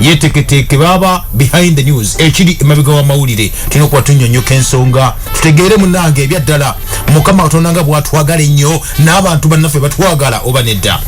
yeteketeeke baaba behind the news ekiri emabega w'amawulire tulina okuba tunyonyoka ensonga tutegeere munange ebya ddala mukama katonda nga bwatwagala ennyo n'abantu bannaffe batwagala oba nedda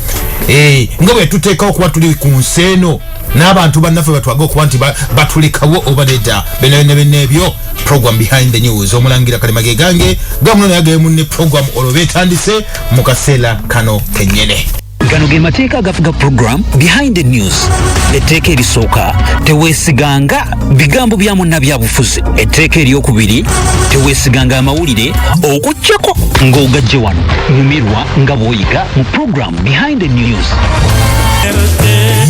eh, nga bwe tuteekawo okuba tuli ku nsi eno n'abantu bannaffe batwage okuba nti batulekawo oba nedda benabenabena ebyo program behind the news omulangira kalema ge gange gamuno naye gemunne program olwo betandise mu kaseera kano kenyene gano ge mateeka agafuga program behind the news etteeka erisooka teweesiganga bigambo bya munnabyabufuzi etteeka eryokubiri teweesiganga amawulire okuggyako ng'ogajje wano nyumirwa nga bw'oyiga mu program behind the news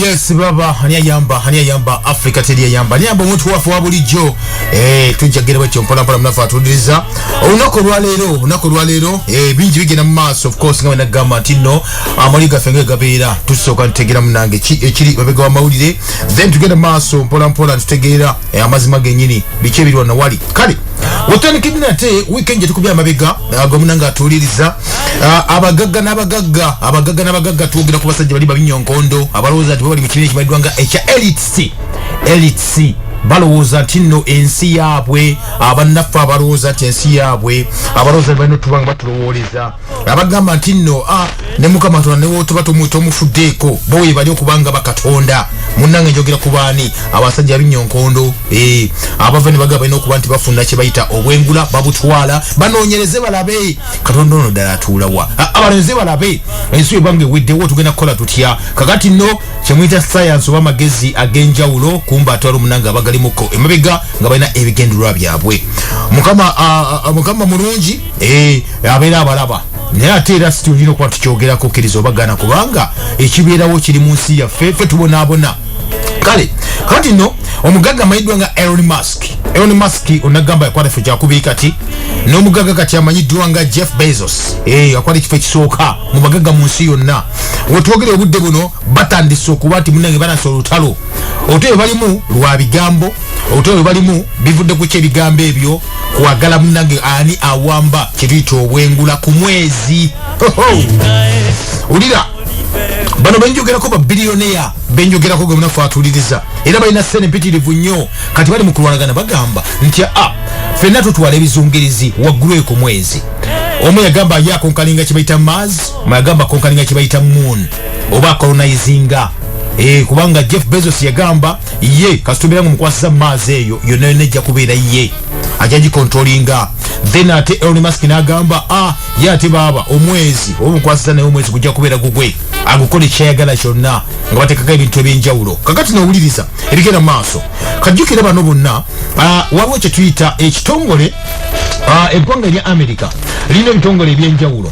yes baba ani ayamba ani ayamba africa teri ayamba ani ayamba omuntu waffe wa bulijjo Eh, tujja kugera bwekyo mpolampola munafe atudiriza olunaku olwaleero olunaku olwaleero eh, bingi bigenda mu maaso ofcourse nga wenagamba nti no amali gaffe nga gabeera tusooka ntutegeera munange ekiri babega wamawulire then tugenda mu maaso mpolampola ntutegeera eh, amazima genyini biki ebiri wano wali kale otandikidde nate weekend gyetukubya amabega ah, gomuna nga atuwuliriza ah, abagagga n'abagagga abagagga n'abagagga twogera ku basajja bali babinyonkondo abalowooza nti babali mu kibiina ekimaliddwa nga ekya elits elits balowooza nti nno ensi yaabwe abannaffe abalowooza nti ensi yaabwe abalowooza ne balina otuba nga batulowooleza abagamba nti nno a ah, ne mukama tona newotuba tomufuddeeko bo webali okubanga bakatonda munnange njogera ku baani abasajja binyo nkondo eh, abava ne bagaba balina okuba nti bafuna kye bayita obwengula babutwala banoonyereze balabe katonda ono ddala atuulawa ah, abalonze balabe ensi ebanga eweddewo tugenda kukola tutya kakati nno kyemuyita sayansi oba amagezi ag'enjawulo kumba atwala omunanga abagalimuko emabega nga balina ebigendererwa byabwe mukama mulungi eh, abeera abalaba naye ate era situlina okuba tukyogerako kkiriza obagana kubanga ekibeerawo kiri mu nsi yaffe fe tubonaabona kale kati no omugagga amanyiddwa nga elon musk elon musk onagamba yakwata ekifo kyakubii kati n'omugagga kati amanyiddwa nga jeff bezos eh, yakwata ekifo ekisooka mu bagagga mu nsi yonna wetwogera obudde buno batandise okuba nti munange banasa olutalo olutalo balimu lwa bigambo olutalo balimu bivudde ku kyebigambo ebyo kwagala munange ani awamba kyetuyita obwengula ku mwezi ulira bano benjogerako babiliyoneya benjogerako ge munafe atuliriza era balina sente mpitirivu nnyo kati bali mu kulwanagana bagamba nti a fenna tutwala ebizungirizi waggulu eko mwezi omu yagamba yakonkalinga kyebayita mars agamba konkalinga kyebayita moon oba colonizinga eh, kubanga jeff bezos yagamba ye kasitobera nga omukwasiza maazi eyo yonna yonna ejja kubeera ye ajja gikontrolinga then ate elon musk n'agamba a ah, ye ate baaba omwezi oba omukwasiza naye omwezi gujja kubeera gugwe agukole kyayagala kyonna nga batekako ebintu ebyenjawulo kakati nowuliriza ebigenda mu maaso kajjukire bano bonna ah, waliwo kyetuyita ekitongole ah, eggwanga erya america lirina ebitongole ebyenjawulo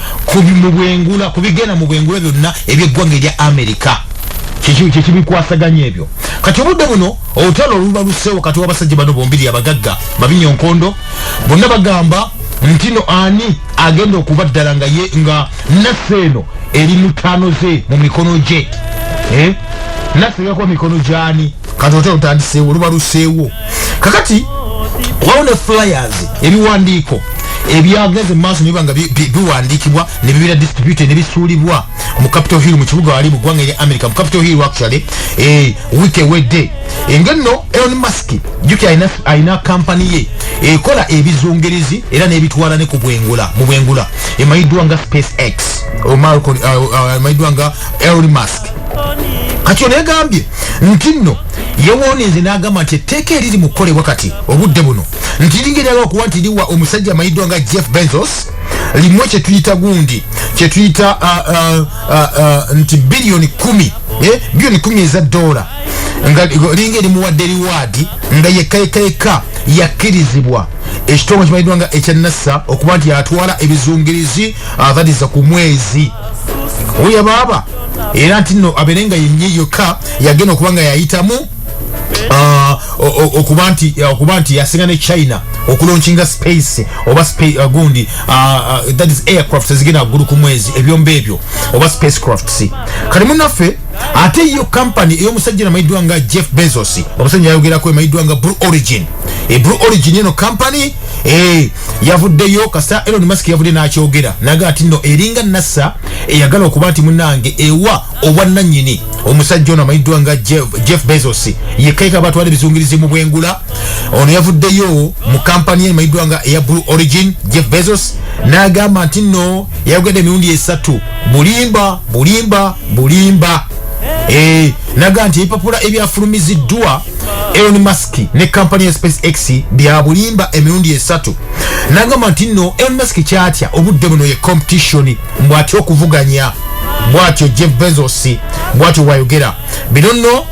kubimubwengula kubigenda mu bwengula byonna ebyeggwanga erya amerika kyekibikwasaganya ebyo kati obudde buno olutalo oluba luseewo kati wabasajja bano bombiri abagagga babinyo nkondo bonna bagamba ntino ani agenda okuba ddala nga ye nga naffe eno eri mutaano ze mu mikono gye eh? naffe yakuba mikono gyani kati otya lutandiseewo luba luseewo kakati wawo ne flyers ebiwandiiko ebyagenze mumaaso nibiba nga biwandiikibwa nebibeera distributed nebisuulibwa mu capital hill mu kibuga wali mu ggwanga erya america mu capital hill actually eh, week ewedde engenno elon musk juki alina kampani ye ekola ebizungerezi era nebitwala ne ku bwengula mu bwengula emanyiddwa nga space x omayiddwa uh, uh, nga elon musk kati ono egambye nti nno yewooninze n'agamba nti etteeka eriri mu kukolebwa kati obudde buno nti lingeryaga okuba nti liwa omusajja amayiddwa nga jeff benzos limu kyetuyita gundi kyetuyita uh, uh, uh, nti biliyoni kumi eh, biliyoni kumi eza dola nga linga erimuwadde riwaadi nga yekka yekka yekka yakkirizibwa ekitongole kimanyiddwa nga ekya nasa okuba nti atwala ebizungirizi abaliza ku mwezi oya baaba era nti nno abeere nga yenye yokka yagenda okuba nga yayitamu ah, okuba nti okuba nti yasinga ne china okulonkinga space oba uh, gundi uh, uh, that is aircraft ezigenda waggulu ku mwezi ebyomba ebyo oba space crafts kati munaffe ate yo kampani eyomusajja namayiddwa nga jeff bezos omusajja yayogerako emayiddwa nga blue origin e blue origin eno kampani e eh, yavuddeyo kasita Elon Musk yavudde n'akyogera naga ati nno eringa nasa eyagala okuba nti munange ewa obwannanyini omusajja ono amanyiddwa nga Jeff Bezos yekaika batwala ebizungirizi mu bwengula ono yavuddeyo mu kampani ye emanyiddwa nga eya Blue Origin Jeff Bezos n'agamba nti nno yayogedde emirundi esatu bulimba bulimba bulimba eh, naga nti ebipapula ebyafulumiziddwa Elon Musk ne kampani ya space x byabulimba emirundi esatu nagamba nti no elmask kyatya obudde buno ye competition bwatya okuvuganya bwatyo jeff bezos bwatyo wayogera bino nno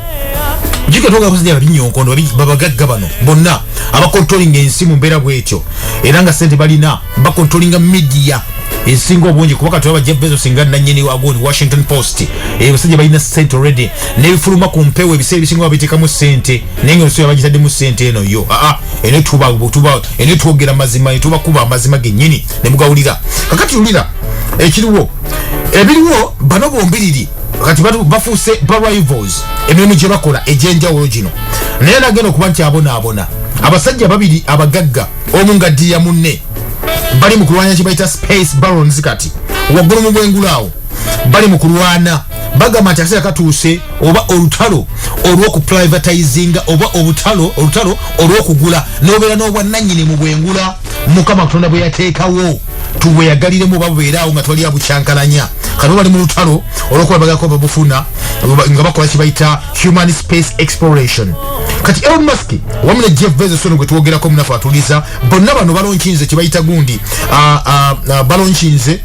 jiko toga kuzidi ya binyo nkondo babagagga bano bonna abakontolinga ensi mu mbeera bwetyo era nga sente balina bakontrolinga media esinga obungi kuba kati oba jeff bezos nga nanyini wagoni washington post ebasajja eh, balina sente already nebifuluma ku mpewo ebiseera ebisinga babiteekamu sente naye nga olusoya bagitaddemu sente eno yo aa ah, ah, ene tuba tuba ene twogera mazima netubakuba amazima genyini nemugawulira kakati ulira ekiriwo ebiriwo bano bombiriri kati bafuuse ba rivals emirimu gyebakola egyenjawulo gino naye nagenda okuba nti abonaabona abasajja babiri abagagga omu nga ddiya munne bali mu kulwanya kye bayita space barons kati waggulu mu bwengulu awo bali mu kulwana bagamba nti akaseera katuuse oba olutalo olw'okuprivatizinga oba obutalo olutalo olw'okugula n'obeera n'obwannannyini mu bwengula mukama katonda bwe yateekawo tuweyagaliremu oba bubeeraawo nga twali abukyankalanya kati bali mu lutalo olw'okuba bagako babufuna nga bakola kye bayita human space exploration kati elon musk wamu ne jeff bezos ono gwe twogerako munafe atuliza bonna bano balonkinze kye bayita gundi ah, ah, ah, balonkinze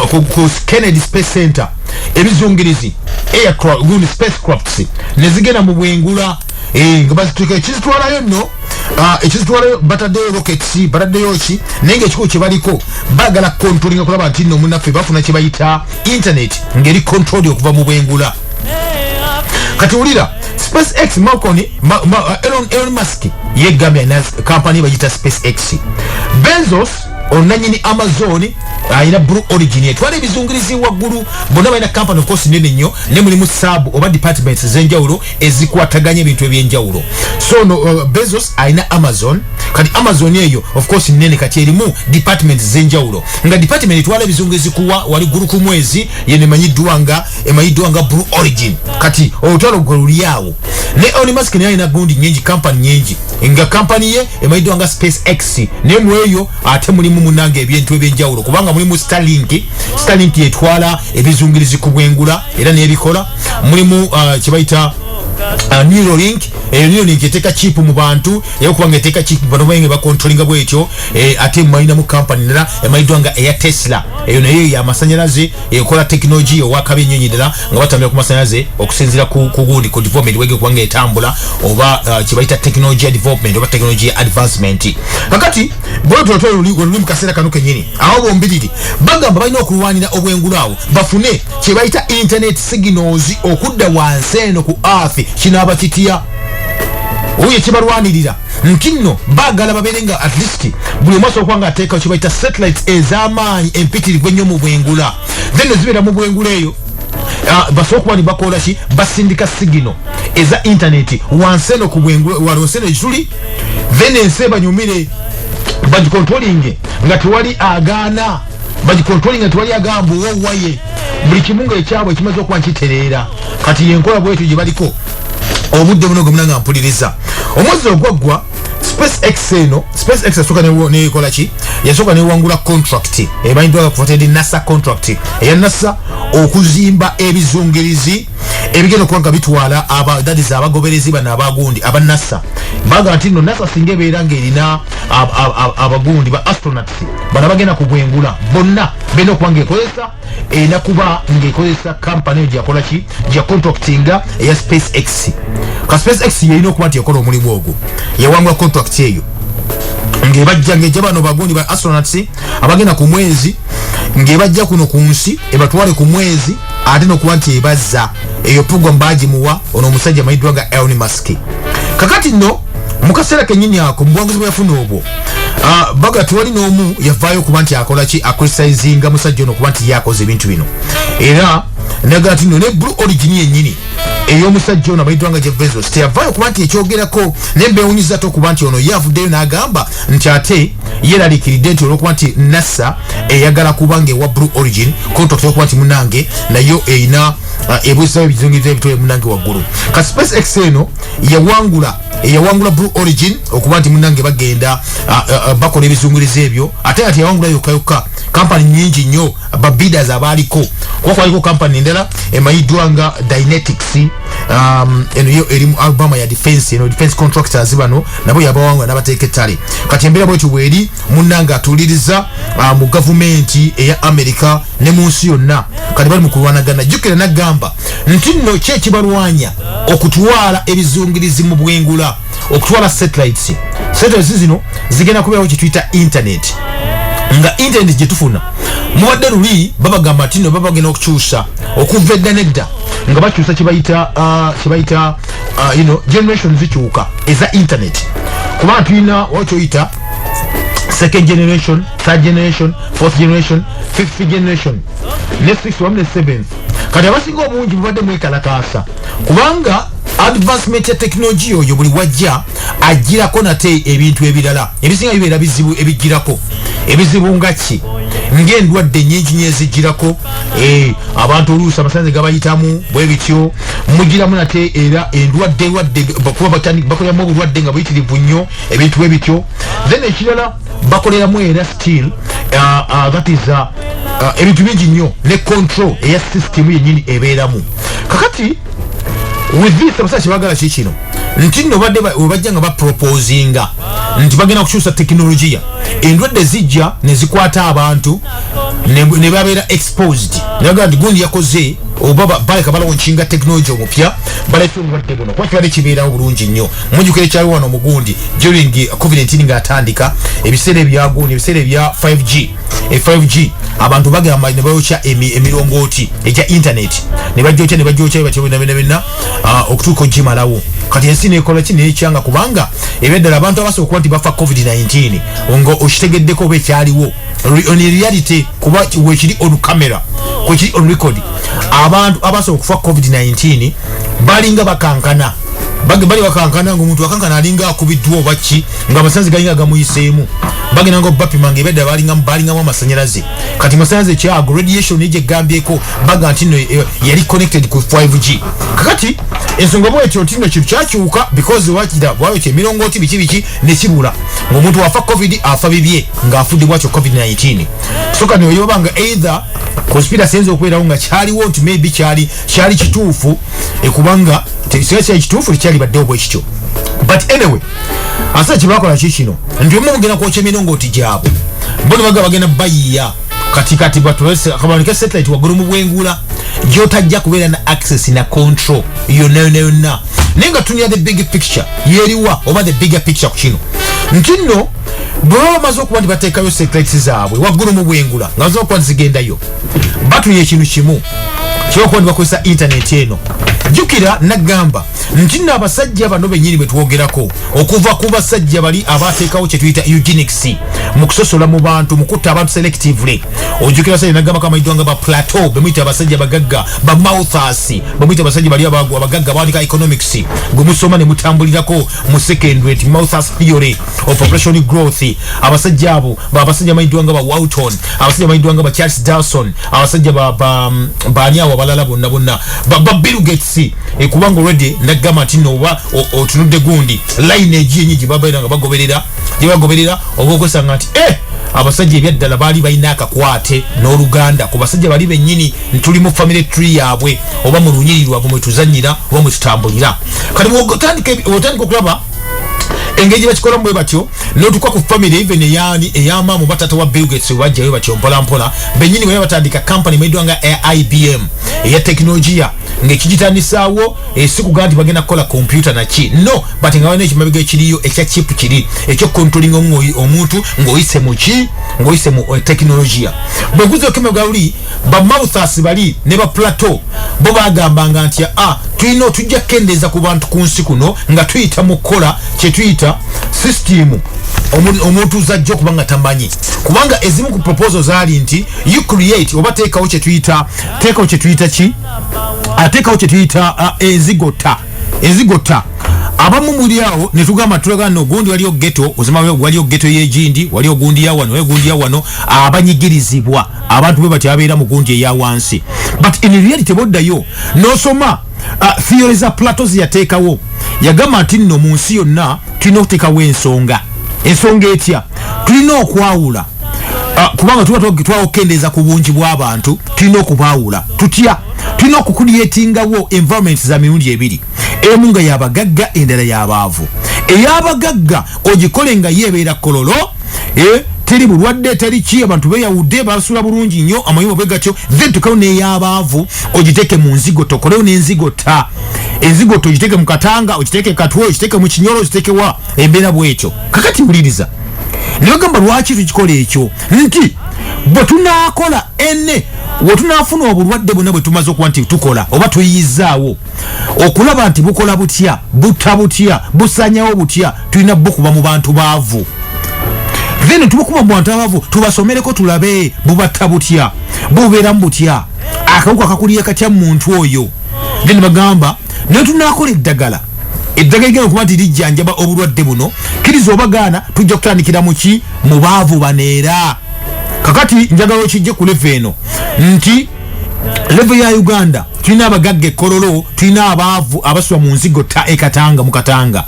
ku kennedy space center ebizungirizi aircraft spacecrafts nezigenda mu bwengula eh, nga bazituka ekizitwalayo nno Ah, ekizitwalayo bataddeyo rockets bataddeyo ki naye nga ekikubo kyebaliko bagala controlinga kulaba nti nno munaffe bafuna kyebayita internet ngeri controli okuva mu bwengula kati wulira space x malconi uh, elon elon musk yegamya na kampani bagita space x benzos onanyini amazon ayina uh, blue origin etwala ebizungirizi waggulu bonna balina kampani okosi nene nnyo ne mulimu saabu oba departments ez'enjawulo ezikwataganya ebintu eby'enjawulo so no, uh, bezos ayina amazon kati amazon eyo ofcours nene kati erimu departments z'enjawulo nga department etwala ebizungirizi kuwa wali ggulu ku mwezi yenemanyiddwa nga emanyiddwa nga blue origin kati olutalo gwe luli awo ne elon musk naye alina gundi nyingi kampani nyingi nga kampani ye emanyiddwa nga space x naye mu eyo ate mulimu munanga ebintu ebyenjawulo kubanga mulimu starlink starlink yetwala ebizungirizi ku bwengula era nebikola mulimu uh, kyebayita uh, neuralink eyo niyo ninki eteeka chip mu bantu era okuba nga eteeka chip bano bainge bakontrolinga bwetyo eh, ate mumalinamu kampani nera emanyiddwa nga eya tesla eyo nayo yamasanyalaze ekola tekinologiya owakabi ennyo nyirira nga batambira ku masanyalaze okusinzira ku gundi ku development wege kubanga etambula oba uh, kyebayita tekinologiya development oba tekinologiya advancement kakati bwetotoluli mu kaseera kano kenyini awo bombiriri bagamba balina okulwanira obwengulu awo bafune kyebayita internet signals okudda wansi eno ku earth kinaaba kitya oyo ekibalwanirira nti nno baagala babeere nga at least buli omu asobola kuba nga ateekawo kye bayita satellites ez'amaanyi empitirivu ennyo mu bwengula then ezibeera mu bwengula eyo ah, basobola okuba ni bakola ki basindika sigino eza intaneti wansi eno ku bwengula walonsi eno ekituli then ensi ebanyumire bagikontrolinge nga tewali agaana bagikontrolinge nga tewali agamba owowaye buli kimu nga ekyabwe ekimaze okuba nkitereera kati yenkola bwetyo gye baliko obudde buno gwemuna nga mpuliriza omwezi ogwaggwa spacex eno spacex yasooka nekola ki yasooka newangula contract emanyiddwanga kufatedi nasa contract eya nasa okuzimba ebizungirizi ebigenda okuba nga bitwala abadadizi abagoberezi bano abagundi aba nasa baga nti no nasa singa ebeera ngaerina abagundi ba astronauts bano bagenda kubwengula bonna bena okuba ngaekozesa erina kuba ngaekozesa kampani eyo gyakola ki gya contractinga eya space x ka space x yeyina okuba nti ekola omulimu ogwo yawangula contract eyo ngebajja ngeja bano bagundi ba astronauts abagenda ku mwezi ngebajja kuno ku nsi ebatwale ku mwezi ate nokuba nti ebazza eyo program bagimuwa ono omusajja mayiddwa nga elni maski kakati no mukaseera kenyini ako mubuwanguzi bweyafuna obwo ah, baga tewali n'omu yavaayo okuba nti akolaki akritisinga musajja ono okuba nti yakoze ebintu bino era nagala tino ne blue origin yenyini eyomusajja ono abaidwa nga jevezos teyavaayo okuba nti ekyogerako naye mbewunyiza te okuba nti ono ye avuddeyo n'agamba nti ate yeraliikiridde nti olwokuba nti nasa eyagala kuba nga ewa blue origin kontokte okuba nti munange nayo erina ah, ebuzisawo ebizingirizo ebitole munange waggulu ka space x eno yawangula eyawangula blue origin okuba nti munange bagenda ah, ah, bakola ebizungirizo ebyo ate ati yawangula yokka yokka kampani nyingi nnyo babidas abaaliko kuba kwaliko kampani endala emanyiddwa nga dynetics um, eno yo erimu albama ya defense eno defense contractors bano nabo yabawangula nabateeka ettale kati embeera bwetyo bweri munange atuuliriza mu gavumenti eya america ne mu nsi yonna kati bali mu kulwanagana jjukira nagamba nti nno ki ekibalwanya okutwala ebizungirizi mu bwengula okutwala satellites satellites zino zigenda kubeerawo kyetuyita internet nga internet gyetufuna mubadde luli babagamba nti no babagenda okukyusa okuva edda nedda nga bakyusa kyebayita uh, kyebayita uh, you know generation zikyuka eza internet kuba tulina wakyoyita second generation third generation fourth generation fifth generation ne six wamu ne seventh kati abasinga obungi bubadde mwekalakaasa kubanga advancement ya tekinologiya oyo buli wajja ajjirako nate ebintu ebirala ebisinga bibeera bizibu ebijjirako ebizibu nga ki ngaendwadde nyingi nyo ezijjirako eh, abantu oluusi amasanze gabayitamu bwe bityo mujjiramu nate era endwadde lwadde kuba bakoleramu obulwadde nga buyitirivu nnyo ebintu bwe bityo then ekirala bakoleramu era still uh, uh, that is uh, uh, ebintu bingi nnyo ne control eya system yenyini ebeeramu kakati with this abasajja kyebagala ki kino nti nno badde webajja nga baproposinga nti bagenda kukyusa tekinologiya endwadde zijja nezikwata abantu nebabeera exposed nebagaa nti gundi yakoze oba baleka balawonkinga tekinologiya omupya baleka endwadde buno kuba kibadde kibeerawo bulungi nnyo mujukira ekyali wano mugundi during covenant nga atandika ebiseera ebyagundi ebiseera ebya 5g e 5g abantu bagamba ne bayokya emirongooti egya internet ne bajokya ne bajokya bebatyobinabenabina ah, okutuuka ogimalawo kati ensi nekola ki nekyanga kubanga ebyaddala abantu abasobola okuba nti bafa covid-19 nga okitegeddeko oba ekyaliwo on reality kuba wekiri on camera kwekiri on record abantu abasobola okufa covid-19 balinga bakankana bagi bali bakankana ngo muntu akankana alinga akubidwa obaki nga amasanzi galinga gamuyisemu bagi nango bapi mange beda bali ngam bali ngam amasanyalaze kati masanzi kya ago radiation ije gambye ko baga antino eh, yali connected ku 5G kati ensonga bwe ekyo tino kitu kyakyuka because wakida bwawe kye milongo ti biki biki ne kibula ngo muntu wafa covid afa bibye nga afudi bwacho covid 19 soka ni oyobanga either conspiracy enzo kwera unga chali won't maybe chali chali kitufu ekubanga tekisigala kyali kituufu tekyali badde obwekityo but anyway asa kyebakola ki kino nti omu mugenda kwokya emirongooti gyabwe bo nebaga bagenda bayiya kati kati batuakabanike satellite waggulu mu bwengula gyotajja kubeera na access na control yonna yonna yonna naye nga tunira the big picture yeriwa oba the bigger picture ku kino nti nno bwebaba bamaze okuba nti bateekayo satellite zaabwe waggulu mu bwengula nga zokuba zigendayo batunya ekintu kimu kyokuba nibakozesa intaneti eno jukira nagamba nti no abasajja bano benyini betwogerako okuva ku basajja bali abateekawo kyetuyita eugenics mu kusosola mu bantu mu kutta abantu selectively ojukira basajja nagamba kamaidwa nga ba plateau bemuyita abasajja bagagga ba mouthas bemuyita abasajja bali abagu abagagga bawandika economics gwe musoma ne mutambulirako mu secondary ti mouthas theory of population growth abasajja abo babasajja maidwa nga ba wouton abasajja maidwa nga ba charles darson abasajja baani awo abalala bonna bonna baba billgates ekubanga eh, olwedde nagamba nti nooba otunudde gundi layini egiyenyi gyebabeera nga bagoberera gyebagoberera oba okwesanga nti e abasajja ebyaddala baali balina akakwate n'oluganda ku basajja bali bennyini ntuli mu family tree yaabwe oba mu lunyiri lwabwe mwetuzanyira oba mwetutambulira kati otandika okulaba engeri gyebakikolamu bwe batyo notuka ku family even eyani eyamaamu batata wa bill gates webajjayo batyo mpolampola benyini bwe batandika company mwedwa nga ibm eya tekinologiya ngekigitandisaawo esikuga eh, nti bagenda kukola kompyuta naki no but nga balina ekimabega ekiriyo ekya chip kiri ekyokukontrolinga omuntu ngaoyise muki ngaoyise mu eh, tekinologiya bweguza okemebwa luli ba mouthas bali ne ba plateau bo bagambanga nti a ah, tulina otujja kukendeeza ku bantu ku nsi kuno nga tuyita mu kukola kyetuyita system omuntu zajja okuba nga tamanyi kubanga ezimu ku proposal zaali nti you create oba teekawo kyetuyita teekawo kyetuyita ki ateekawo ah, kyetuyita ah, ezigota ezigota abamu muli awo netugamba tulaga no gundi waliyo geto ozima waliyo geto yegindi waliyo gundi yawano waliyo gundi yawano abanyigirizibwa abantu bwe bati abeera mu gundi eya wansi but in reality boddayo nosoma uh, theory za plato zeyateekawo yagamba nti nno mu nsi yonna tulina okuteekawo ensonga ensonga etya tulina okwawula uh, kubanga tuba twagitwawo okukendeeza ku bungi bw'abantu tulina okubaawula tutya tulina okukulyetingawo environment za mirundi ebiri emu nga yabagagga endala yabaavu eyabagagga ogikole nga yeebeera kololo eh teri bulwadde teri ki abantu beyawudde basula bulungi nnyo amayumba bwe gatyo then tukewo n'eyabaavu ogiteeke mu nzigo tokolewo n'enzigo ta enzigo to ogiteeke mu katanga ogiteeke katwe ogiteeke mu kinyolo ogiteeke wa embeera bw'ekyo kakati wuliriza ne bagamba lwaki tukikola ekyo nti bwe tunaakola ene we tunaafuna obulwadde bwonna bwe tumaze okuba nti tukola oba tuyiyizzaawo okulaba nti bukola butya butta butya busanyawo butya tulina bo kuba mu bantu baavu then tubakuba mu bantu abaavu tubasomereko tulabe bubatta butya bubeeramu butya akawuka kakulira katya mu muntu oyo then bagamba naye tunakola eddagala eddagala igenda okuba nti lijjanjaba obulwadde buno kiriza oba gaana tujja kutandikira muki mu baavu baneera kakati njagala okijje ku leve eno nti levo ya uganda tulina abagagga ekololo tulina abaavu abaswa mu nzigo ta ekatanga mu katanga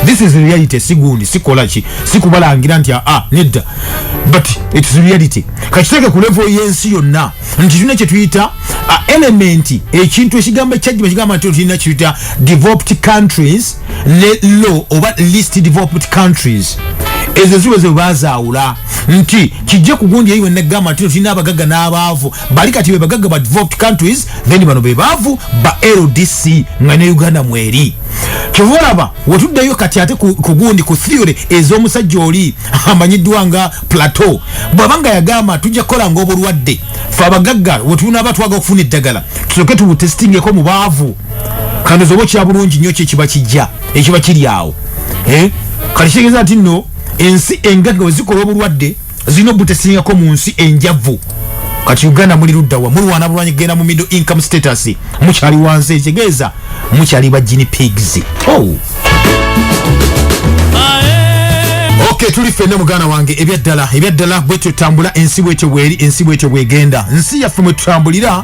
this is reality sigundi sikola ki sikubalangira nti aa ah, nedda but its reality kakiteke ku levo yensi yonna nti tulina kyetuyita ah, element ekintu ekigambo ekyajjima kigamba nti tulina kyetuyita developed countries ne law oba least developed countries ezo ziwe zebazaawula nti kijja kugundi eyiwe negamba nti tulina abagaga n'abaavu bali kati be bagaga ba developed countries then bano be baavu ba ldc nga ne uganda mweri kyova olaba wetuddeyo kati ate kugundi ku theory ez'omusajja oli amanyiddwa nga plateau bwaba nga yagamba tujja kukola nga obulwadde fe abagagga wetunaaba twaga okufuna eddagala tusoke tubutestingeko mu baavu kandozoba okyabulungi nnyo kyekiba kijja ekiba kiri awo eh? kati kitegeeza nti nno ensi engaga wezikola obulwadde zirina obutasingako mu nsi enjavu kati uganda muli luddawa mulwana bulwanyi kugenda mu middle income status mukyali wansi ekitegeeza mukyali ba gini pigs oh. ok tuli fenna muganda wange ebyaddala ebyaddala bwetyo tambula ensi bwetyo bweri ensi bwetyo bwegenda nsi yaffe mwetutambulira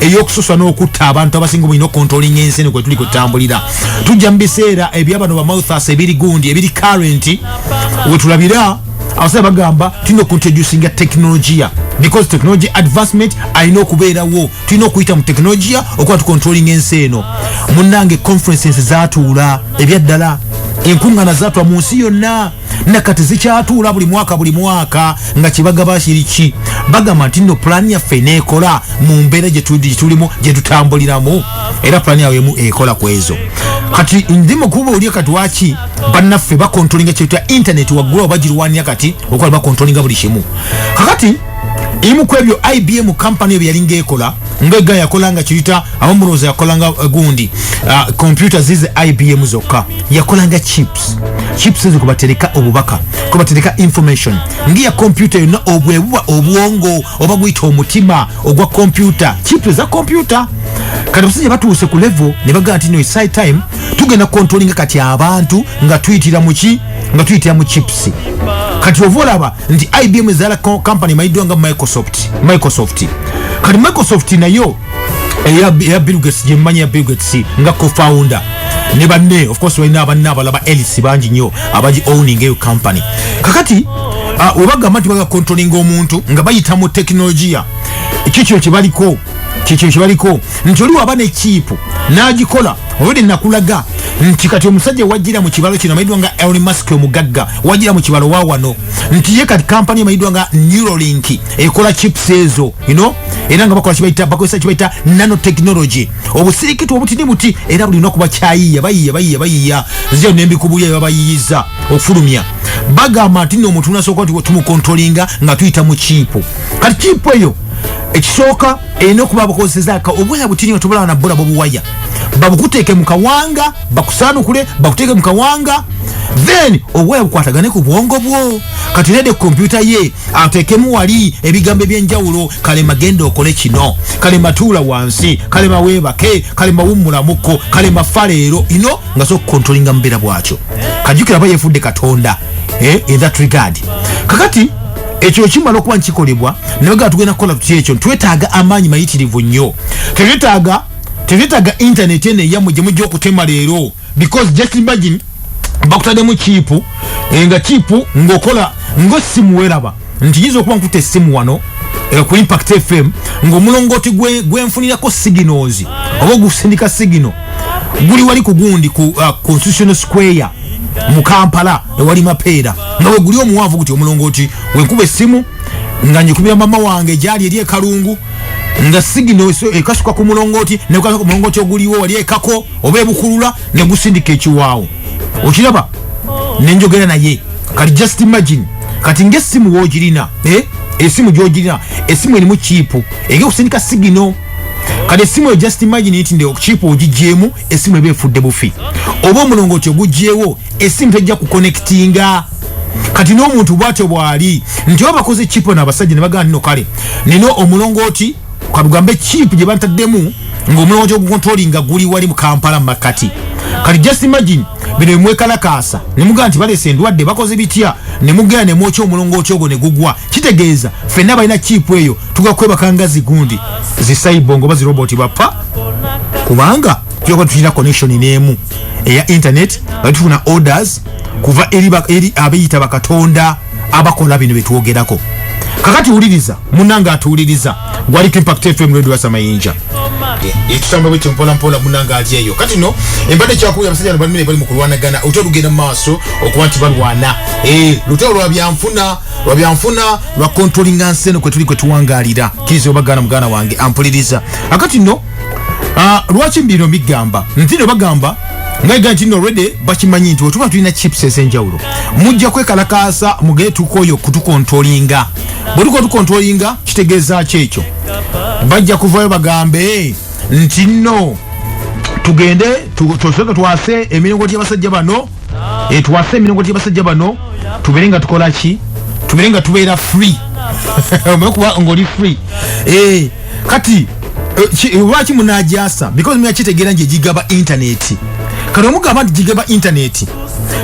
eyokususa n'okutta abantu abasinga obulina okontrolinga ensi eno kwetuli kwetutambulira tujja mu biseera ebyabano bamouthas ebiri gundi ebiri currenti wetulabira abasajja bagamba tulina okuintroducinga tekinologiya because technology advancement alina okubeerawo tulina okuyita mu tekinologiya okuba tukontrolinga ensi eno munnange conferences zatuula ebyaddala enkuŋŋana zatwa mu nsi yonna nakati zikyatuula buli mwaka buli mwaka nga kyebagaba kiriki bagamba nti no pulaani yaffe neekola mu mbeera gyetulimu gyetutambuliramu era pulaani yawe emu ekola ku ezo kati ndi mukuba olye kati waki bannaffe bakontrolinga kyetya intaneti waggula obagirwanira kati okola bakontrolinga buli kimu kakati imu kwebyo ibm company ebyo yalinga ekola ngega yakola nga kiyita abamuloza yakola nga eh, gundi ah, computer zize ibm zokka yakola nga chip chips chips ezo kwebatereka obubaka kwebatereka information ngiya kompyuta yonna obwebuba obwongo oba guyita omutima ogwa kompyuta chips eza kompyuta kati abasajja batuuse ku levo ne bagaa nti no side time tugenda kontrolinga kati abantu nga tuyitira muki nga tuyitira mu chips kati ova olaba nti ibm ezala company mayiddwa nga microsoft microsoft kati microsoft nayo eya bill gates gye mmanyi ya bill gates nga co-founder ne banne of course balina abanne abalaba elis bangi nnyo abagi owning eyo company kakati ah, webagamba nti baga controlling omuntu nga bayita mu tekinologiya kikyo kyebaliko kikyo kyebaliko nti oli waba ne kiipu n'agikola olwede nakulaga nti kati omusajja wajira mu kibalo kino amayidwa nga elon musk omugagga wajira mu kibalo wawano nti ye kati kampani emayidwa nga neuralink ekola chips ezo you know era nga bakola kibaita bakozesa kibaita nano technology obusirikitu obutini buti era buli lunaku bakyayiya bayiya bayiya bayiya zyo nembikubuya babayiyiza okufulumya bagamba nti no omuntu nasooka nti tumukontrolinga nga tuyita mu kiipu kati kiipu eyo ekisooka erina okuba bakozesezaka obuwaya butini nga tobulaba nabula bobuwaya babukuteeke mu kawanga bakusaanukule bakuteeke mu kawanga then obuwaya bukwatagane ku bwongo bwo kati nede kompyuta ye atekemu wali ebigambo ebyenjawulo kalema genda okole kino kalema tuula wansi kalema webake kalema wummulamuko kalema fa leero ino nga so kukontrolinga mubeera bwakyo kajukira aba yefudde katonda eh, in that regard kakati ekyo ekimala okuba nkikolebwa naye gaa tugenda kukola tuty ekyo twetaaga amaanyi mayitirivu nnyo tetwetaaga tetwetaaga intaneti eno eyamwe gye mujja okutema leero because just imagine bakutademu chipu enga chipu ngokola ngo simu welaba nti yizo kuba nkute simu wano eh, ku impact fm ngo mulongoti gwe gwe mfunira ko signals obo gusindika signal guli wali kugundi ku uh, constitutional square mu Kampala ewali mapeera nawe guli omuwavu kuti omulongoti wenkuba esimu nga njikubira mama wange gyali eri ekalungu nga sigino ekasuka ku mulongoti nekukasuka ku mulongoti oguliwo wali ekako oba ebukulula negusindika ekiwaawo okiraba nenjogera naye kati just imagine kati ngaesimu wogirina eh? esimu gyogirina esimu erimu kiipu ege kusindika sigino kati esimu eyo just imagine nti nde kiipu ogigyemu esimu eba efudde bufi oba omulongo ti ogugyewo esimu tejja kukonectinga kati n'omuntu bwatyo bwali nti oba bakoze kiipu nabasajja nebagana nino kale nina omulongo ti kabugambe chip gye bantaddemu ng'omulomo gyogukontrolinga guli wali mu kampala mu makkati kati just imagine bino bimwekalakaasa ne mugaa nti baleese endwadde bakoze bitya ne mugenda ne mwokya omulongooti ogwo ne gugwa kitegeeza ffenna balina chipu eyo tuga kwebaka nga zigundi zisaibongo oba ziroboti bappa kubanga tuyoka tulina connection n'emu eya internet nga tufuna orders kuva eri abeyita bakatonda abakola bino byetwogerako kakati wuliriza munange atuwuliriza gwaliko impact fm radio wasa mayinja ekitamba bwe kimpola mpola munange ali eyo kati no embadde kyakuwulira abasajja no balimire bali mu kulwanagana olutalo lugenda mu maaso okuba nti balwana eh, lutalo lwa byanfuna lwa byanfuna lwa kontrolinga nsi eno kwe tuli kwe tuwangalira kiriza obagaana muganda wange ampuliriza akati no Ah, lwaki bino bigamba ntino bagamba ngaiga nti no redi bakimanyi nti wetuba tulina chips ezenjawulo mujja kwekalakaasa mugee tukoyo kutukontrolinga bwetuko tukontrolinga kitegeeza ki ekyo bajja kuvayo bagambe nti no tugende tusoke twase emiringo gy'abasajja bano etwase emirongo gy'abasajja bano tubeere nga tukola ki tubeere nga tubeera free omanyi kuba ng'oli free eh, kati eh, eh, lwaki munajasa because mina kitegeera nti egigaba intaneti kati omugamba nti gigaba intaneti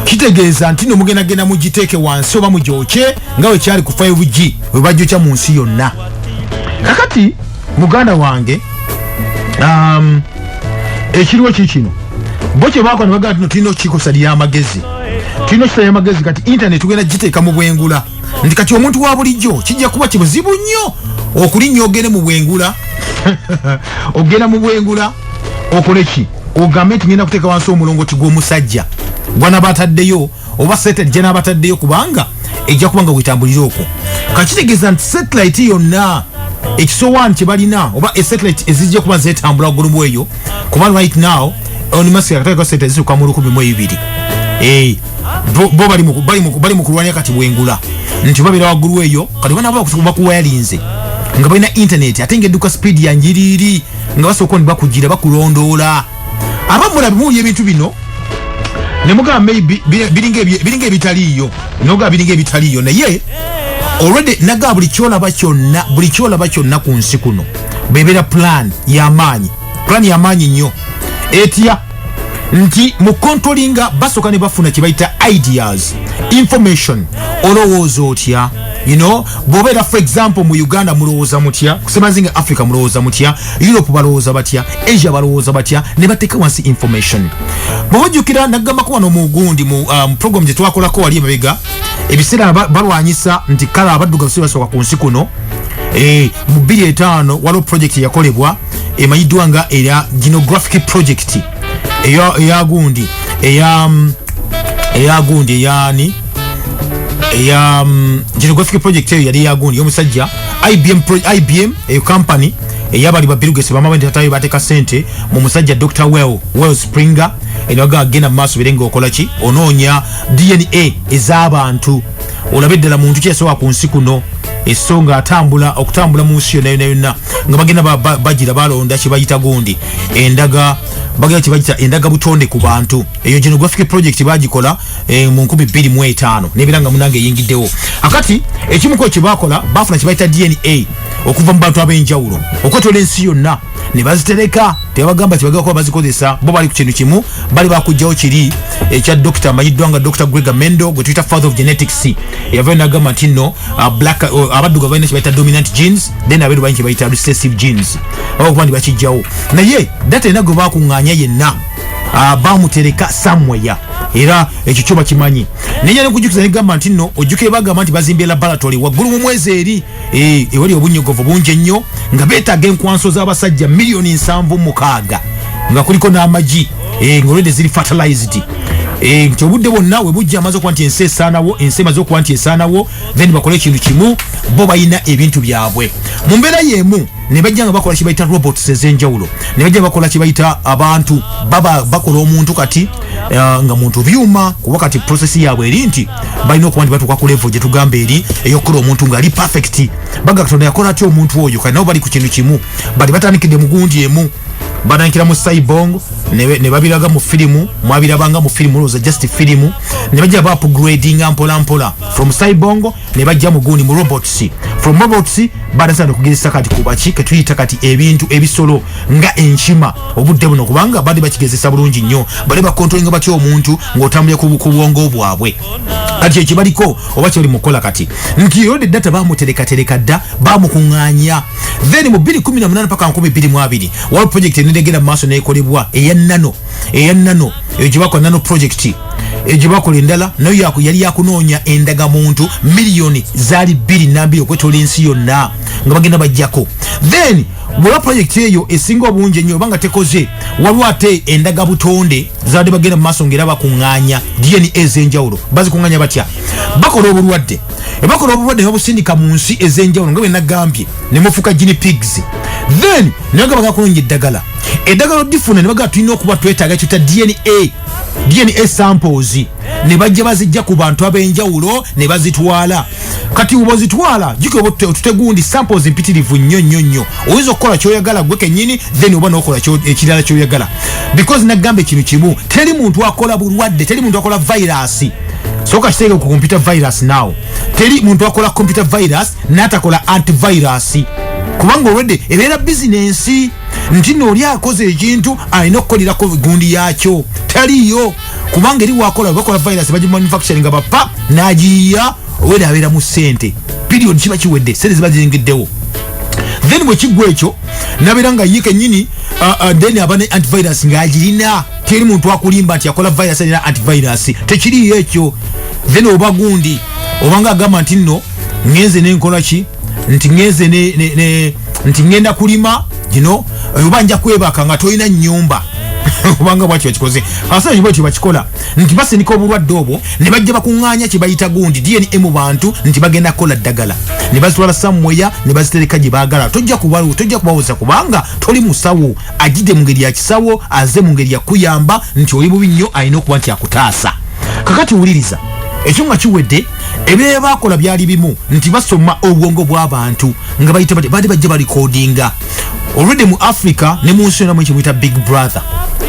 kitegeeza nti no mugendagenda mugiteeke wansi oba mugyokye nga wekyali ku 5g webajjokya mu nsi yonna kakati muganda wange um, ekiriwo kikino bo kyebakola nebagaa tino tulina okukikosa lyamagezi tulina okukisa lyamagezi kati intaneti tugenda giteeka mu bwengula nti kati omuntu wa bulijjo kijja kuba kibuzibu nnyo okulinnya ogende mu bwengula ogenda mu bwengula okole ki ogambe nti ngenda kuteeka wansi omulongoti gw'omusajja gwanaba ataddeyo oba satellite gyenabataddeyo kubanga ejja kuba nga wetambulire okwo kakitegeeza nti satellite yonna ekisowaani kyebalina oba esatellite ezijja kuba zetambula gulumu eyo kuba right now onmasakatekaseteziuka mu lukumi mu ebibiri eh, bo bali mu kulwanya kati bwengula nti babeera waggulu eyo kati banabakuwayalinze nga balina intaneti ate nga edduka sipiidi yanjiriiri nga basooka ni bakugira bakulondoola abamu mulabe muwulira ebintu bino ne mugamba maybe biringa ebitaliiyo nogamba biringa ebitaliiyo naye olwedde nagaa buli kyolaba kyonna buli kyolaba kyonna ku nsi kuno bebeera plan yamaanyi plan yamaanyi nnyo etya nti mu controlinga basooka ne bafuna kye bayita ideas information olowooza otya you know bobera for example mu uganda mulowoza mutya kusemazinga africa mulowoza mutya europe balowoza batya asia balowoza batya ne bateka wansi information bwojukira nagamba ko wano mugundi mu um, program je twakola ko wali mabega ebisera balwanyisa nti kala abaduga bisiba soka ku nsi kuno eh mu 25 walo project yakolebwa emayidwa nga era genographic project eya eya gundi eya mm, eya gundi eya ni eya mm, geographic project eyo yali ya gundi yomusajja IBM pro, IBM eyo company eya bali ba Bill Gates bamaba ndi tatayo bateka sente mu musajja Dr Well Well Springer enaga agenda maso birenga okola ki ononya DNA ezabantu olabe ddala muntu kyesowa ku nsi kuno esonga atambula okutambula mu nsi yonna yonna yonna nga bagenda bagira ba, ba, balonda kyebayita gundi endaga bagala kibajita endaga butonde ku bantu eyo genographic project bagikola e, mu nkumi bbiri mu etaano nebiranga munange eyingiddewo akati ekimuko kyebakola bafuna kibayita dna okuva mu bantu ab'enjawulo okwetola ensi yonna ne bazitereka tebagamba tibagala kuba bazikozesa bo bali ku kintu kimu bali bakugjawo kiri ekya dokita amanyiddwa nga dr grega mendo gwe tuyita father of genetics eyavayo nagamba nti nno uh, black uh, abaddugavu balina kyebayita dominant genes then abeeru balina kyebayita recessive genes oba okuba nti bakijjawo naye data yena gwe bakuŋŋaanya yenna uh, bamutereka samweya era ekyo kyo bakimanyi naye nekujukiza negamba nti no ojjukire bagamba nti bazimbye laboratory waggulu mu mwezi eri eh, ewali obunyogovu bungi ennyo nga beetaaga enkwanso z'abasajja miliyoni nsanvu mukaaga nga kuliko n'amagi eh, nga olwedde ziri fertilized eh, nti obudde bwonna we bujja amaze okuba nti ensi esaanawo ensi emaze okuba nti esaanawo then bakole ekintu kimu bo balina ebintu byabwe mu mbeera y'emu ne bajja nga bakola kibayita robots ez'enjawulo ne bajja bakola kibayita abantu baba bakola omuntu kati uh, nga muntu byuma kuba kati prosesi yaabwe eri nti balina okuba nti batuuka ku levo gye tugamba eri ey'okukola omuntu ng'ali perfect baga katonda yakola atya omuntu oyo kati nabo bali ku kintu kimu bali batandikidde mu gundi emu banankira mu saibong ne babiraga mu firimu mwabirabanga mu firimu olowooza just firimu ne bajja ba upgradinga mpolampola from saibongo ne bajja mu gundi mu robots from robots badatera nokugezesa kati kubaki ketuyita kati ebintu ebisolo nga enkima obudde buno kubanga bali bakigezesa bulungi nnyo bali bakontrolinga batya omuntu ng'otambulira ku bwongo bwabwe kati ekibaliko oba kyebali mukukola kati nti yode data bamuterekatereka dda bamukuŋŋanya then mu 2018 paka 2022 waliwo project enenegenda mu maaso nekolebwa eya nano eya nano eyo gyebakola nano project eyo gyebakola endala nayo yali yakunoonya endaga muntu miliyoni zaali bbiri nambiri okwetola ensi yonna nga bagenda bajjako then bweba project eyo esinga obungi ennyo oba nga tekoze waliwo ate endaga butonde zibadde bagenda mu maaso ngaera bakuŋŋaanya dna ez'enjawulo bazikuŋŋaanya batya bakola obulwadde ebakola obulwadde nebabusindika mu nsi ez'enjawulo nga bwenagambye ne mufuuka gini pigs then nebagamba gakunonya eddagala eddagala odifuna ne bagamba tulina okuba twetaaga kyuta dna dna samples ne bajja bazijja ku bantu ab'enjawulo ne bazitwala kati uba ozitwala jukira oba otutegundi samples mpitirivu nnyo nnyo nnyo oyinza okukola kyoyagala gwe kennyini then oba nokola ekirala kyoyagala because nagamba ekintu kimu teri muntu akola bulwadde teri muntu akola vayirasi soka kiteeke ku computer virus now teri muntu akola computer virus natakola antivirus kubanga olwedde ebeera bizinensi nti nooli akoze ekintu alina okukolerako gundi yakyo taliyo kubanga eri wakola bakola virus baji manufacturing nga bapa najiya owera abera mu sente period kiba kiwedde sente ziba ziyingiddewo then bwe kigwa ekyo nabeera nga ye kenyini uh, uh, then aba ne antivirus ng'agirina teri muntu akulimba nti akola virus alina antivirus tekiriyo ekyo then oba gundi obanga agamba nti nno ngenze nenkola ki nti ngenze ne, ne, ne nti ngenda kulima you know oba nja kwebaka nga tolina nyumba obanga bwakyo bakikoze abasajja bwetyo bakikola nti basindika obulwadde obwo ne bajja bakuŋŋaanya kye bayita gundi dna mu bantu nti bagenda kukola ddagala ne bazitwala samweya ne bazitereka gye baagala tojja kubawoza kubanga toli musawo agide mu ngeri ya kisawo aze mu ngeri yakuyamba nti oli bubi nnyo alina okuba nti akutaasa kakati wuliriza ekyo nga kiwedde ebyebakola byali bimu nti basoma obwongo bw'abantu nga bayita bati baali bajja balikodinga olwedde mu africa ne mu nsi yona mu ekimuyita big brother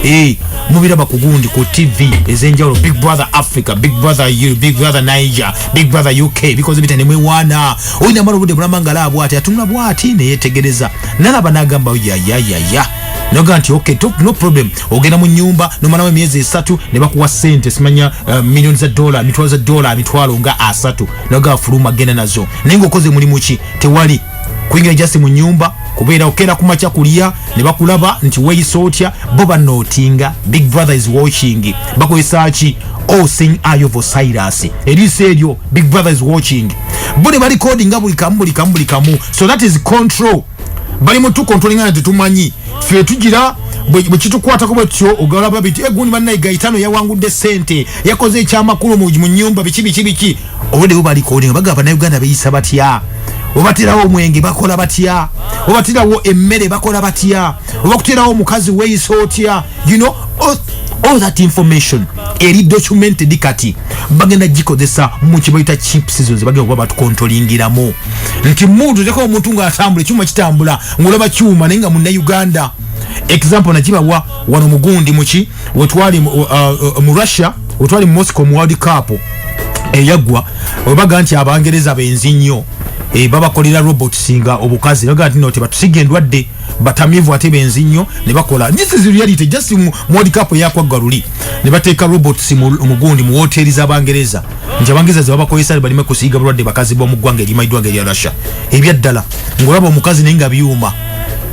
eh, mubiraba ku gundi ku tv ezenjawulo big brother africa big brother eu big brother niger big brother uk bikoze bita nemwewaana olina mala obudde bulamba nga laabu ati atunula bwati neyetegereza nalaba nagamba yayayaya noga nti ok no problem ogenda mu nyumba nomalawo emyezi esatu ne bakuwa sente simanya uh, eh, milioni za dola mitwalo za dola mitwalo nga asatu naga fuluma genda nazo naye ngaokoze mulimu ki tewali kuingira jasi mu nyumba kubeera okera kumakya kulya ne bakulaba nti weyisa otya bo banootinga big brother is watching bakozesa ki all seeing eye of osiris eriiso eryo big brother is watching bo ne balikodi nga buli kamu buli kamu buli kamu so that is control bali mutu controlling and tumanyi fe tujira bwekitukwata kuba kyo ogala babiti egundi eh, banna igaitano yawangudde sente yakoze ekyamakulu mu nyumba biki biki biki obudde bubali kodi baga bana Uganda beyisa batya obatirawo omwenge bakola batya obatirawo emmere bakola batya oba kuteerawo omukazi weyisa otya you know oh, all that information eri documented kati bagenda gikozesa mu kibayita chips zo ze bagenda kuba batukontolingiramu nti muntu ojako omuntu ng'atambula ekyuma kitambula ng'olaba kyuma naye nga munnauganda example nakibawa wano mugundi muki wetwali mu uh, uh, uh, russia wetwali mu moscow mu world cup eyaggwa webaga nti abangereza benzi nnyo eh, babakolera robots nga obukazi baga nti no tebatusiga endwadde batamivu ate benzi nnyo ne bakola this is reality just mu world cup eyakwagga luli ne bateeka robots mu gundi mu woteeri z'abangereza nti abangereza ze babakozesa balime kusiiga bulwadde bakazi b'omu ggwanga erimayiddwanga erya russia ebyaddala ng'olaba omukazi naye nga byuma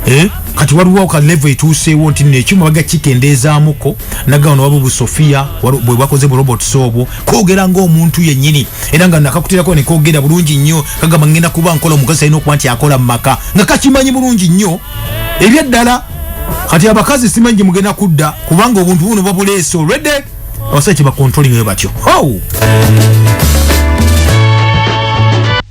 eh? kati waliwo ka level etuuseewo nti nekyuma baga kikendeezaamuko nagaano waba obusofia bwe bwakoze bu robots obwo kogera ng'omuntu yennyini era nga nakakutirako ne kogera bulungi nnyo kagamba ngenda kuba nkola omukazi alina okuba nti akola mu maka nga kakimanyi bulungi nnyo ebyaddala kati abakazi simanyi gye mugenda kudda kubanga obuntu buno babuleese olwedde abasajja kyebakontolingayo batyo oh!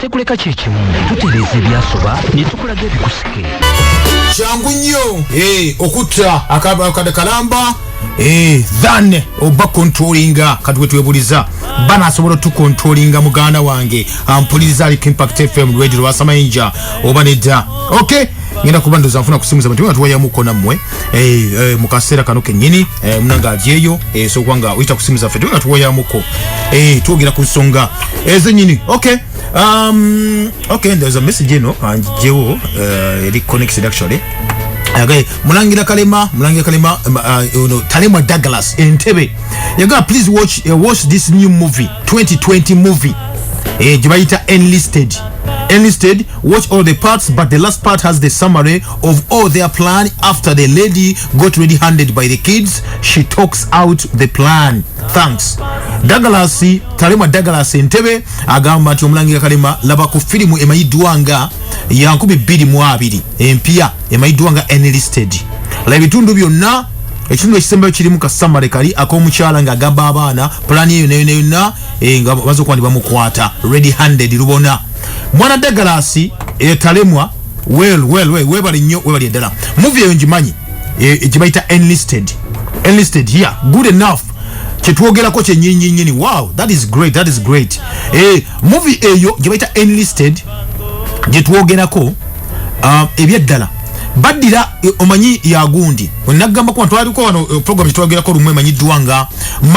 tekuleka kyekimu tutereeza ebyasoba netukulaga ebikusike kyangu nnyo eh, okutta akabakade kalamba eh, than oba kontrolinga kati wetwebuliza bana asobola otukontrolinga muganda wange ampuliriza aliko impact fm radio lwasamayinja oba nedda ok ngenda kuba ndoza nfuna kusimuza bantu nga tuwayamuko nammwe eh, eh, mu kaseera kano kennyini eh, munanga alyeyo esobola nga oyita ku simu zaffe tube nga tuwoyamuko twogera ku nsonga ezenyini okay um, okay there's a message eno anjewo eri connected actually Okay. mulangira kalema mulangira kalema um, uh, no, talema douglas entebe yagaa please watch, uh, watch this new movie 2020 movie eh, gyebayita enlisted enlisted watch all the parts but the last part has the summary of all their plan after the lady got ready handed by the kids she talks out the plan thanks douglas talema douglas entebe agamba nti omulangira kalema laba ku firimu emayiddwa nga yankumi bbiri mu abiri empya emayiddwa nga enlisted la ebitundu byonna ekitundu ekisembayo kirimu kasamale kali akomukyala nga agamba abaana pulani eyo neyona yonna eh, nga baza okuba ndi bamukwata ready handed lubona mwana dagalasi etalemwa eh, well well well webale nnyo webale ddala movie eyo ngimanyi eh, eh, gyebayita enlisted enlisted here good enough kyetwogerako kyenyinyini wow that is great that is great eh, movie eyo gyebayita enlisted gyetwogerako uh, ebyeddala baddira eh, omanyi yagundi nagamba kuba twaliko wano eh, program gyetwogerako lumu emanyiddwa nga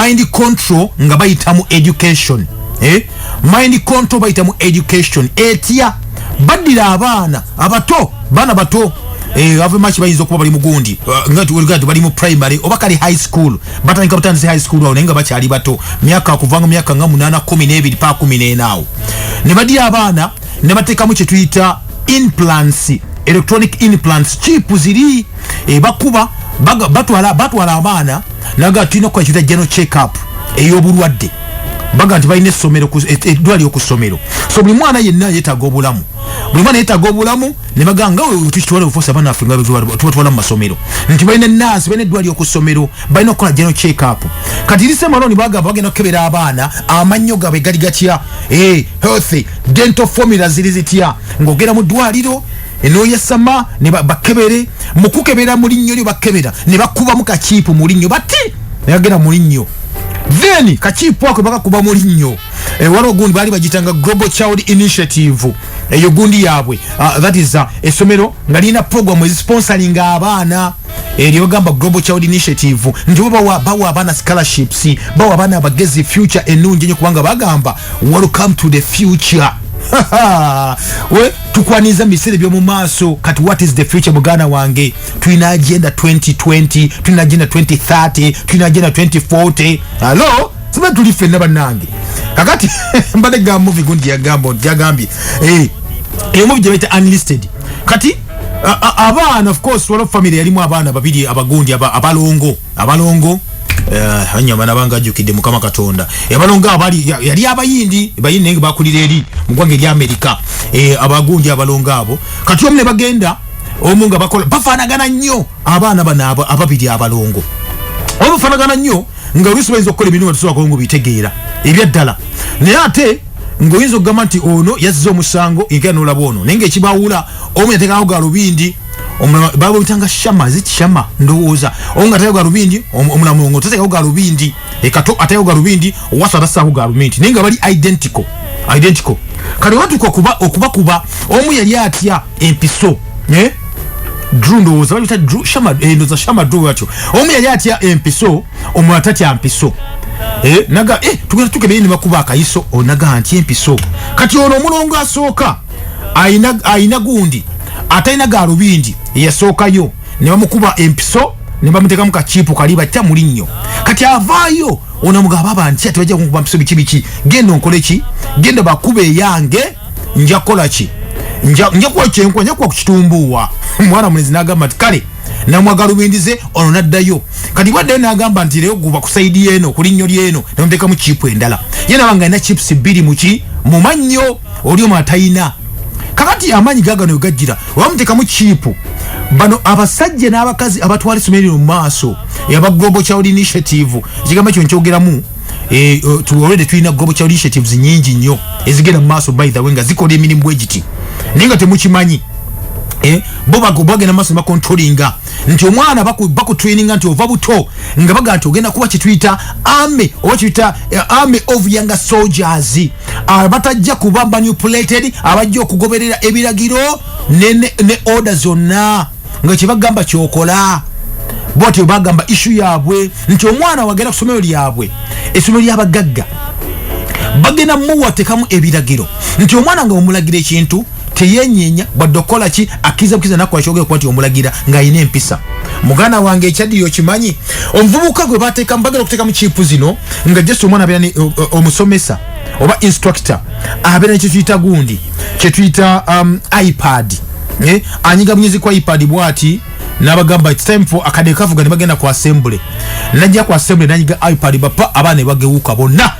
mind control nga bayitamu education eh? mind control bayita mu education etya baddira abaana abato baana bato eh, avemaki bayinza okuba bali mugundi uh, bali mu primary oba kali high school batandika butandise high school awo naye nga bakyali bato myaka kuvanga myaka nga munana kumi nebiri pa kumi nenaawo ne baddira abaana ne bateekamu kye tuyita implants electronic implants chip ziri eh, bakuba batwala abaana naga tulina okukola kiyita general check up ey'obulwadde baga nti balina essomero eddwaliro ku ssomero so buli mwana yenna yetaaga obulamu buli mwana yetaaga obulamu ne baga nga tukitwala obufuusa abaana affe nga tubatwala mu masomero nti balina naasi balina eddwaliro ku ssomero balina okukola jeno checkup kati lise maloni bagamba bagenda okukebera abaana amannyo gaabwe gali gatya eh, healthy dental formula ziri zitya ng'ogenda mu ddwaliro enoyesama ne bakebere mukukebera mulinnyo lyo bakebera ne bakubamu kakiipu mulinnyo bati nayagera mulinnyo then kakiipu ako bakakuba mu linnyo eh, waliwo gundi baali bagitanga global child initiative eyo gundi yaabwe ah, that is ah, essomero nga lirina program ezisponsoring abaana eryogamba eh, global child initiative nti bo bawa abaana scholarships bawa abaana abagezi future enungi enyo kubanga bagamba welcome to the future we tukwaniza mu biseera eby'omu maaso kati what is the future muganda wange tulina agenda 2020 tulina agenda 2030 tulina agenda 2040 alo siba tuli fenna bannange kakati mbadde ga muvi gundi yagamba yagambye eh, eyo muvi gyebaita unlisted kati abaana of course waliwo famire yalimu abaana babiri abagundi abalongo abalongo eh, anyama nabanga ajukidde mukama katonda abalongo abali yali abayindi bayindi naye bakulira eri mu ggwanga ery amerika eh, abagundi abalongo abo kati omu ne bagenda omu nga bakola bafanagana nnyo abaana bano ababiri abalongo oba bafanagana nnyo nga oluusi bayinza okukola emirimu tusobola nga obitegeera ebyaddala naye ate ng'oyinza okugamba nti ono yazza omusango era nolaba ono naye ngaekibawula omu yateekako galubindi baba obitanga shama zikishama ndowooza omu nga ateekako galubindi omulamu ngo tateekako galubindi ekato atayo galubindi owasa abasaako galumenti naye nga bali identical identical kale watuka okuba okuba kuba omu yali atya empiso eh? drew ndowooza balita drew shama eh, ndoza shama drew atyo omu yali atya empiso omu atatya mpiso eh? naga eh, tugenda tukebeye ne bakuba akayiso onaga oh, nti empiso kati ono omulongo asooka ayina gundi atalina galubindi eyasookayo ne bamukuba empiso ne bamuteka mu kakiipu kali batya muli nnyo kati avaayo onamugaba banti ati bajja kunkuba mpiso biki biki genda onkole ki genda bakuba eyange nja kukola ki nja kuwa kyenkwa nja kuwa ku kitumbuuwa mwana mulezi n'agamba nti kale namwagalubindize ono naddayo kati bwaddayo nagamba nti leyo guba kusaidi yeno kulinnyo lyeno nemutekamu chipu endala ye nabanga alina chips bbiri muki mumannyo oli omu atayina kakati amanyi gagano gajira wamutekamu chipu bano abasajja n'abakazi abatwala essomero lino mu maaso aba global child initiative ekigambo ekyo nkyogeramu eh, oh, tuwolede tulina global child initiatives nyingi nnyo ezigenda mu maaso by the way nga zikola emirimu bwegiti naye nga temukimanyi Eh, bo bagenda maso bakontrolinga nti omwana bakutraininga nti ova buto nga baga nti ogenda kuba kituyita army oba kituyita eh, army of younger soldiers abatajja kuba manipulated abajja okugoberera ebiragiro ne, ne, ne order zonna nga kyebagamba kyokola bwatyo bagamba ishu yabwe nti omwana wagenda kusomero lyabwe esomero lyabagagga bagenda muwatekamu ebiragiro nti omwana nga omulagira ekintu teyenyenya wadde okukola ki akkiriza bukiriza nakola kyogere kuba nti omulagira ng'alina empisa muganda wange ekyaddiyo okimanyi omuvubuka gwe bateekamu bagala okuteekamu kiipu zino nga just omwana abeera ne omusomesa oba instructor abeera ne kyetuyita gundi kyetuyita um, ipad eh, anyiga bunyezi kwa ipad bwati nabagamba its time for akade kavuga ne bagenda ku assembly najja ku assembly nanyiga ipad bapa abaana ne bagewuka bonna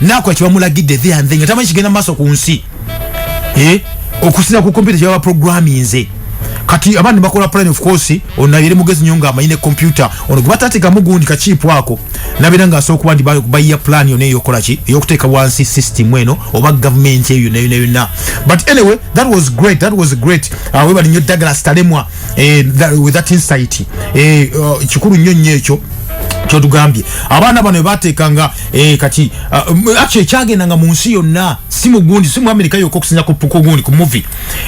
nakola kyebamulagidde the and the nga tamanyi kigenda maaso ku nsi eh? okusinza ku kompyuta kyebaba programinze kati abandi bakola plan of course onabire mugezi nyo nga amanyine kompyuta ono gwe batateka mugundi kakiipu ako nabira nga asooka kuba nti bayiya plan yona eyokola ki eyokuteeka wansi system eno oba gavumenti eyo yona yona yona but anyway that was great that was great uh, webali nyo dagala stalemwa eh, that, with that insight eh, uh, kikulu nyo nyo ekyo kyotugambye abaana bano bebateekanga Eh, kati ah, um, actually kyagenda nga mu nsi yonna si mu gundi si mu amerika yokka okusinza ku gundi ku muvi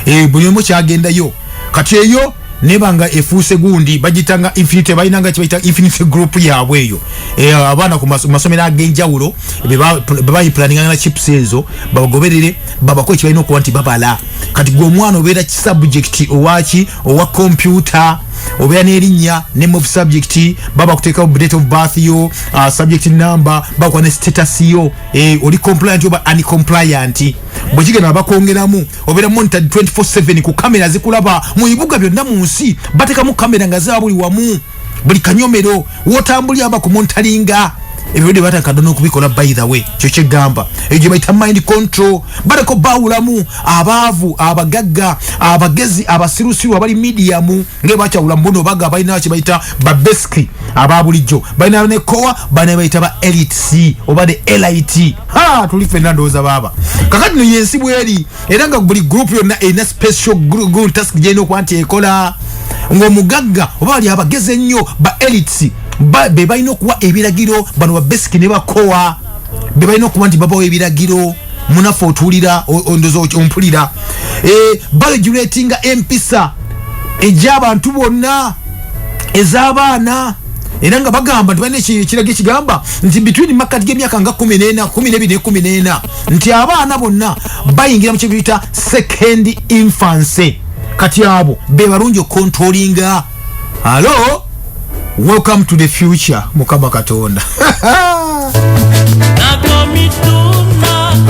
eh, buli omu kyagendayo kati eyo nebanga efuuse gundi bagita nga infinite balina nga kibayita infinite group yaabwe eyo eh, abaana ku masomero ag'enjawulo bebayiplaninga na chips ezo babagoberere babako ekibalina okuba nti babala kati gwe omwana obeera kisubjekiti owaki owa kompyuta obeera n'erinnya name of subject baba kuteekawo date of birth yo uh, subject number bakuwa ne status yo eh, oli compliant oba uncompliant bwe kigenda bakwongeramu obeera monitor 24/7 ku kamera zikulaba mu bibuga byonna mu nsi batekamu kamera nga zaba buli wamu buli kanyomero wotambuli aba ku montalinga ebyo de bata kadona okubikola by the way kyo kyegamba ejo bayita mind control barako bawulamu abavu abagagga abagezi abasirusiru abali medium nge bacha wula mbono baga bayina kye bayita babeski ababulijo bayina ne kowa bana bayita ba elite c obade elite ha tuli fenando za baba kakati no yensi bweli era nga buli group yonna erina special task gyerina okuba nti ekola ng'omugagga oba bali abagezi ennyo ba elites be balina okuwa ebiragiro bano babesiki ne bakowa be balina okuba nti babawo ebiragiro munaffe otuulira ondoza ompulira eh, baregulatinga empisa egy'abantu bonna ez'abaana era nga bagamba nti balina ekiraga ekigamba nti between makkati g'emyaka nga kumi n'ena kumi n'ebiri ne kumi n'ena nti abaana bonna bayingira mu kyebiyita second infancy kati abo be balungi okukontrolinga alo welcome to the future mukama katonda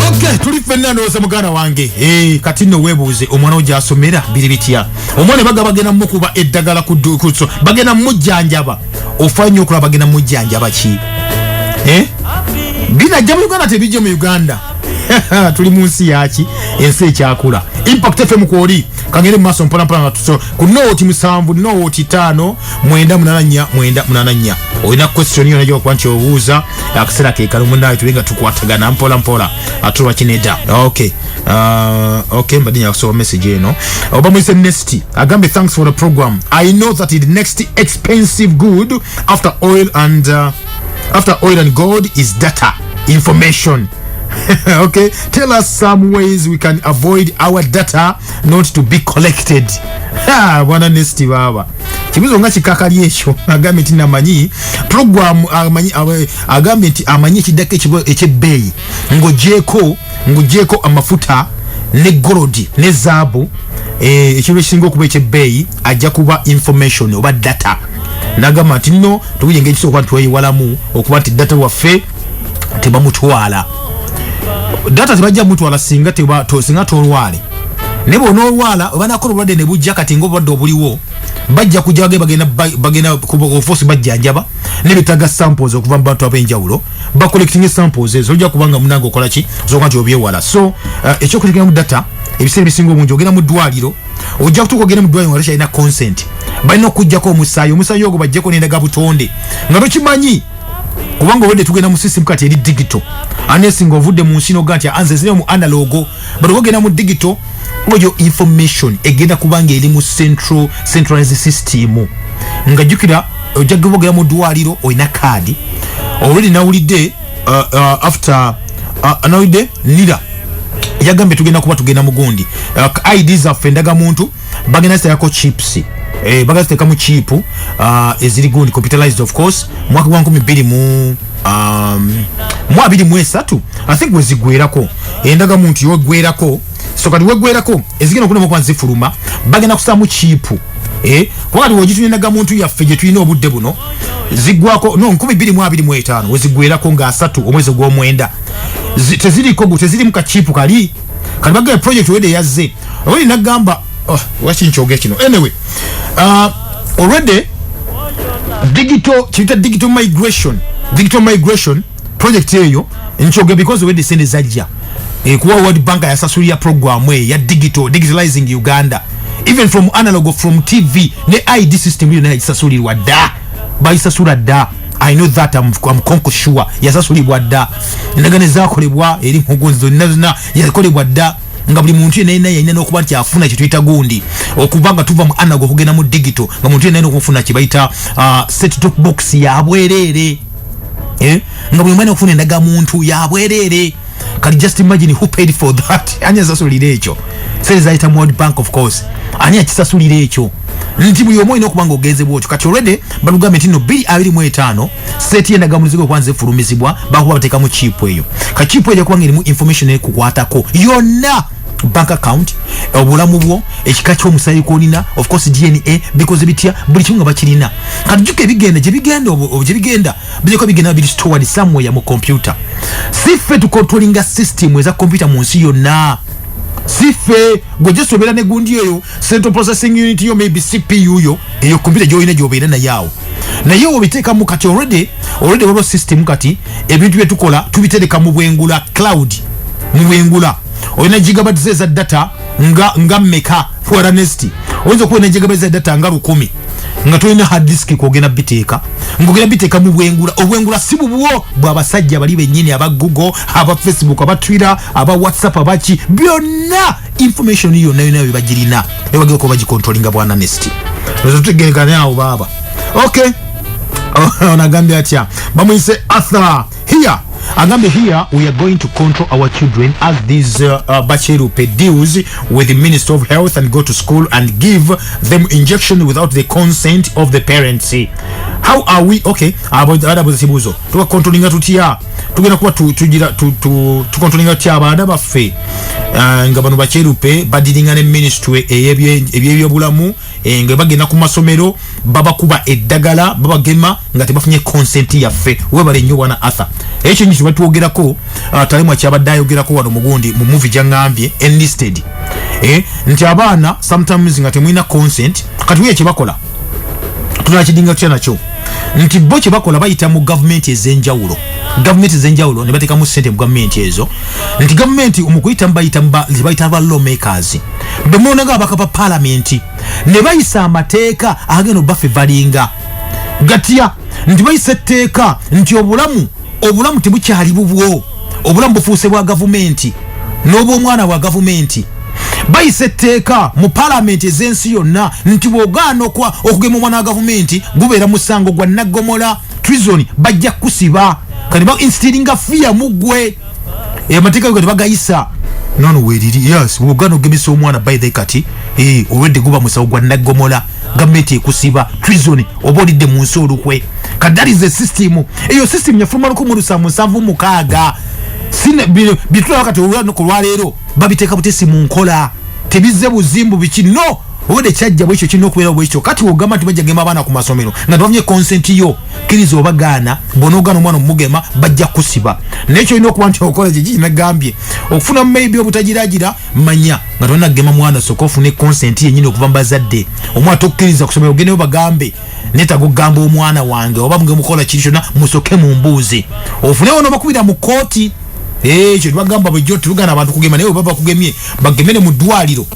okay tuli fenna ndowooza muganda wange hey, eh, kati nno weebuuze omwana wo gyasomera biri bitya omwana baga bagenda mukuba eddagala ku dukuso bagenda mujjanjaba ofa nyo okulaba bagenda mujjanjaba ki eh? binajja mu uganda tebijje mu uganda tuli mu nsi yaki ensi ekyakula impact fm kwoli kagere mu maaso mpolampola nga tuso ku nooti musanvu nooti taano mwenda munana nnya mwenda munana nnya olina kwesitioni yona gyokuba nti obuuza akaseera kekala omunaye tuli nga tukwatagana mpolampola atulwa kineda okay Uh, okay mbadde nyakusoma message eno oba muyise nesti agambye thanks for the program i know that the next expensive good after oil and uh, after oil and gold is data information okay tell us some ways we can avoid our data not to be collected Ha, bwana nesti baba kibuzo nga kikakali ekyo agambye nti namanyi program amanyi awe- agambye nti amanyi ekiddako ekibo- ekyebbeeyi ng'ogyeko ngugyeko amafuta ne golodi ne zaabu eh, ekintu ekisinga okuba ekyebbeeyi ajja kuba information oba data nagamba nti no tukuye engeri kisoboka nti tweyiwalamu okuba nti data waffe tebamutwala data tebajja mutwala singa singa tolwale naye bona olwala obanakola obulwadde ne bujja kati nga obulwadde obuliwo bajja kujja bagenda bagenda kuba ofosi bajjanjaba nebetaga samples okuva mu bantu ab'enjawulo ba collecting samples ezo ojja kubanga munange okola ki zoka nti obyewala so uh, ekyokutegera mu data ebiseera ebisinga obungi ogenda mu ddwaliro ojja kutuuka ogenda mu ddwaliro nga tokyalina consent balina okujjako omusaayi omusaayi ogwo bajjeko nendaga butonde nga tokimanyi kubanga obadde tugenda mu system kati eri digito anesinga ovudde mu nsi noga nti anze ziremu analogo but ogenda mu digital oyo information egenda kubanga eri mu central centralized system nga jukira ojja kubogera mu dwaliro olina kaadi already nawulidde uh, uh, after uh, nawulidde nira yagambye tugenda kuba tugenda mugundi uh, id zaffe ndaga muntu bagenda ziteekako chips eh, bagenda ziteekamu chipu uh, eziri gundi computerized of course mwaka gwa nkumi bbiri mu um, mu abiri mu esatu i think wezigwerako endaga muntu yogwerako so kati wegwerako ezigenda okulema okuba zifuluma bagenda kusaamu chipu eh, kuba kati wogituna endaga muntu yaffe gye tulina obudde buno zigwako no nkumi bbiri mu abiri mu etaano wezigwerako nga asatu omwezi ogw'omwenda teziriko tezirimu kachipu kali kati bagamba project wede yazze oli nagamba oh, waki nkyoge kino anyway uh, already digital kiyita digital migration digital migration project eyo nkyoge because wede sente zajja ekuwa world bank yasasulira programu eyo ya digital digitalizing uganda even from analog from tv ne id system yona yagisasulirwa dda bayisasula dda i know that am conco sure yasasulibwa dda endagano ezakolebwa eri nkugu zonna zonna yakolebwa dda nga buli muntu yena yena yalina nokuba nti afuna kyetuyita gundi okuba nga tuva mu anago okugenda mu digito nga muntu yena yena okufuna kyebayita uh, set top box yabwereere eh? nga buli omwana okufuna endaga muntu yabwereere kati just imagine who paid for that ani asasulira ekyo sente zayita mu world bank of course ani akisasulira ekyo nti buli omu olina okuba nga ogenze bwotyo kati olwedde balugambye nti no biri abiri mu etaano seeti yendagamulizigo okuba nzefulumizibwa bakuba bateekamu chipu eyo ka chipu eyo jakuba nga erimu information ekukwatako yonna bank account obulamu bwo ekika kyomusaayi kwolina ofcourse dna bikoze bitya buli kimu nga bakirina kati juka ebigenda gyebigenda gyebigenda bijako bigenda biri stored somewhere mu computer sife to controlling a system eza computer mu nsi yonna sife gwe just obera ne gundi eyo central processing unit yo maybe cpu yo eyo computer joyina jobera na yao na yo obiteka mu kati already already wabo system kati ebintu byetukola tubitereka mu bwengula cloud mu bwengula oyina gigabytes eza data nga nga meka for honesty oyinza okuba nejegebeza data nga lukumi nga tolina hard disk kwogenda biteeka ngogenda biteeka mu bwengula obwengula si bubwo bwabasajja bali benyini aba google aba facebook aba twitter aba whatsapp abaki byonna information yonna yona bebagirina ebagera kuba bagikontrolinga bwa honesty ezo tutegerekane awo baaba okay onagambye atya bamuyise arthur here agambe here we are going to control our children as these uh, uh, bacherupe deals with the minister of health and go to school and give them injection without the consent of the parents how are we okay adabuza kibuzo tukakontrolinga tutya tugenda kuba tukontrolinga tutya abaana baffe uh, nga bano bacherupe badiringa ne ministry eyebyobulamu eh, nga bagenda ku masomero babakuba eddagala babagema nga tebafunye consent yaffe webale nnyo bwana arthur ekyo nyo kibatwogerako ah, talemwa kyabadde ayogerako wano mugundi mu muvi gyangambye enlisted eh, nti abaana sometimes nga temulina consent kati weye kyebakola tunakidinga tutya nakyo nti bo kyebakola bayita mu gavumenti ezenjawulo gavumenti ezenjawulo nebatekamu sente mu gavumenti ezo nti gavumenti omukuyitamu bayita bayita ba lawmakers bwe mulonda nga abaka ba palamenti ne bayisa amateeka agenda obafe valinga gatya nti bayisa etteeka nti obulamu obulamu tebukyali bubwo obulamu bufuuse bwa gavumenti n'obwomwana bwa gavumenti bayisa etteeka mu palamenti ez'ensi yonna nti bwogaana okugema omwana wa gavumenti gubeera musango gwa naggomola treason bajja kusiba kati ba instilling a fear mugwe e mateka kati bagayisa nono weriri yes wogano gemisa omwana by the kati eh already guba musawo gwa nagomola gameti ekusiba treason obodi de munsi olukwe kadari ze system eyo system ya fuma lukumu lusamu savu mukaga sine bitula wakati wogano kulwa lero babiteka butesi munkola tebizze buzimbu biki no ode kyajja bwekyo kirina okubeerawo bwekityo kati wogamba nti bajja gema abaana ku masomero nga tebafumye consent yo kkiriza oba gaana bonogaana omwana omugema bajja kusiba naye kyolina okuba nti okola kyekikinagambye okufuna maybe obutagiragira manya nga tolina kugema mwana soka ofune consent yenyini okuva mu bazadde omwana tokkiriza kusomero ogendeyo bagambe netaga okugamba omwana wange oba muge mukola kintu kyonna musoke mu mbuuzi ofunewo nobakubira mu kooti ekyo tubagamba bujjo tubugana abantu kugema naye oba bakugemye bagemere mu ddwaliro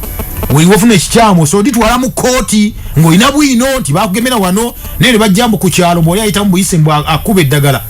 wewafuna ekikyamu so ditwala mu kooti ng'olina bwino nti bakugemera wano naye ne bajjambu ku kyalo mwoyo ayitamu buyise mbu akuba eddagala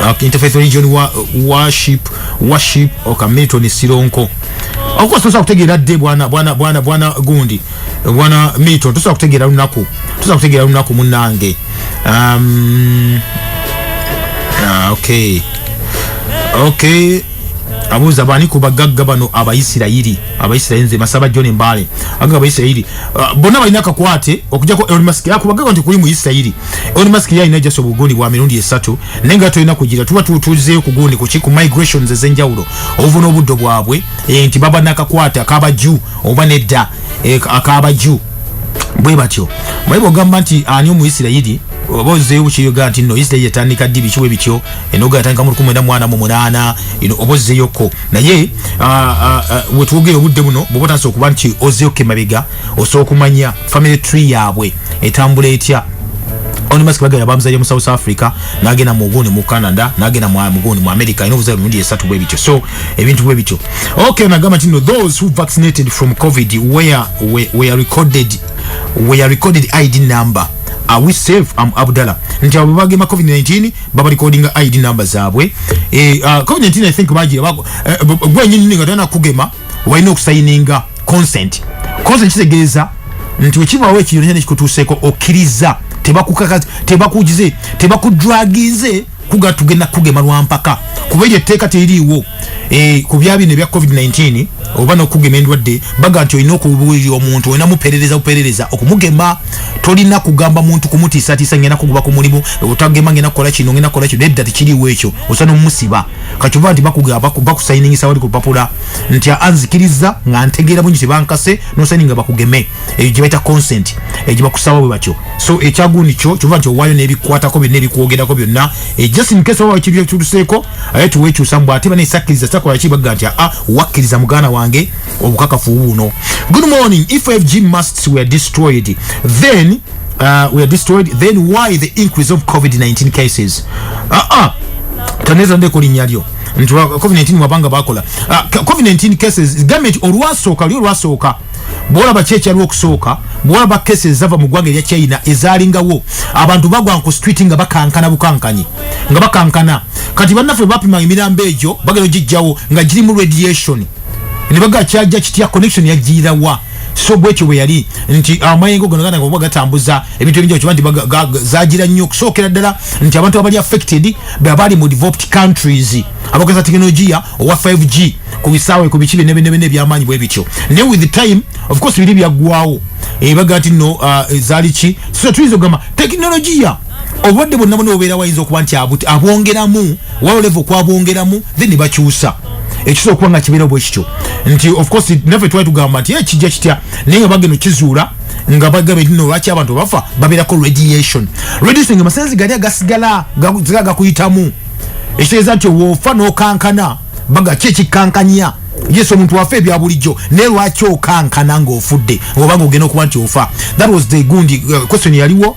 uh, interfaith religion wa, worship worship oka milton sironko okuba tosobola kutegeera dde bwana bwana bwana bwana gundi bwana milton tosobola kutegeera lunaku tosobola kutegeera lunaku munange um, uh, okay okay abuuza bani ku bagagga bano abaisirayiri abaisirayiri nze masaba john mbale agagga abaisirayiri uh, bonna balina akakwate okujako elon musk yakuba gagga nti kuli mu isirayiri Elon Musk yali alina just obugundi bwa mirundi esatu naye nga tulina kugira tuba tutuzeeyo ku gundi kuki ku migrations ez'enjawulo obuva n'obuddo bwabwe eh, nti baba nakakwata akaba juu oba nedda eh, akaba juu bwe batyo mwe bogamba nti ani omuisirayiri oba ozzeeyo bukiyoga nti no isirayiri etandika ddi bikiwe bityo enoga yatandika mu lukumi ena mwana mu munaana oba ozzeeyokko naye wetwogere obudde buno bwoba otandisa okuba nti ozzeeyokko emabega osobola okumanya family tree yaabwe etambula etya onimas bagala bamuzalira mu south africa nagenda mugundi mu canada nagenda mugundi mu america ina obuzala mirundi esatu bwe bityo so ebintu bwe bityo okay nagamba tino those who vaccinated from covid where we, we are recorded we are recorded id number are we safe am abdala nti abo bagema covid-19 baba recording id number zaabwe eh, uh, covid-19 i think bagira eh, gwenyini nga tana kugema walina okusayininga consent consent kitegeeza nti wekibaawo ekintu kyona kikutuuseeko okkiriza tebakukaka tebakugize tebakujwagize kuga tugenda kugema lwampaka kuba eryo etteeka teririiwo eh, ku bya bino ebya covid-19 oba nokugema endwadde baga nti olina okubuulira omuntu olina muperereza buperereza okumugema tolina kugamba muntu kumutiisatiisa ngenda kuguba ku mulimu otagema ngenda kukola kino ngenda kukola kino nedda tekiriiwo ekyo osana omumusiba kakyova nti bakusayiningisa wali ku lupapula nti anzikiriza nga ntegeera bungi tebankase nosayininga bakugeme eyo gyebaita consent egyebakusaba bwe batyo so ekyagundi kyo kyova nti owaayo nebikwatako byonna ebikwogerako byonna eh, just in case oba kiri ekiruseeko aye tuwekyusa mbu ate banesakkiriza sakolaki bagga nti a ah, wakkiriza muganda wange obukakafu buno good morning if fg musts were destroyed then uh, were destroyed then why the increase of covid-19 cases uh -uh. taneza ndeko linya lyo nti covid-19 wabanga bakola uh, covid-19 cases government olwasooka lyo olwasooka bwolaba ki ekyaliwo okusooka bwolaba kesi ezava mu ggwanga erya china ezalingawo abantu bagwa ku street nga bakankana bukankanyi nga bakankana kati bannaffe bapima emirambo egyo bagenda ogijjawo nga girimu radiation ne baga kyajja kitya connection yajjiirawa so bwekyo bwe yali nti amayengo gano gana kuba gatambuza ebintu ebingi okiba nti zagira nnyo okusookera ddala nti abantu abali affected beabali mu developed countries abageza tekinologiya owa 5g ku bisaawe ku biki byenebinebina ebyamaanyi bwe bityo naye with the time of course biri byaggwawo ebaga eh, ti no uh, zaali ki so tuyinza okugamba tekinologiya obulwadde bwonna bwona obeera wayinza okuba nti abwongeramu wao level kwabongeramu then bakyusa ekiso okuba nga kibeera bwe kityo nti of course naffe twali tugamba nti ekijja eh, kitya naye nga bagenda okizuula nga bagabe nti nolwaki abantu bafa babeerako radiation radiation nga masanzi gali agasigala gala gakuyitamu ekitegeeza nti woofa n'okankana baga ki ekikankanya yesu omuntu wafe ebya bulijjo naye lwaki okankana ng'ofudde oba nga ogenda okuba nti ofa that was the gundi uh, question yaliwo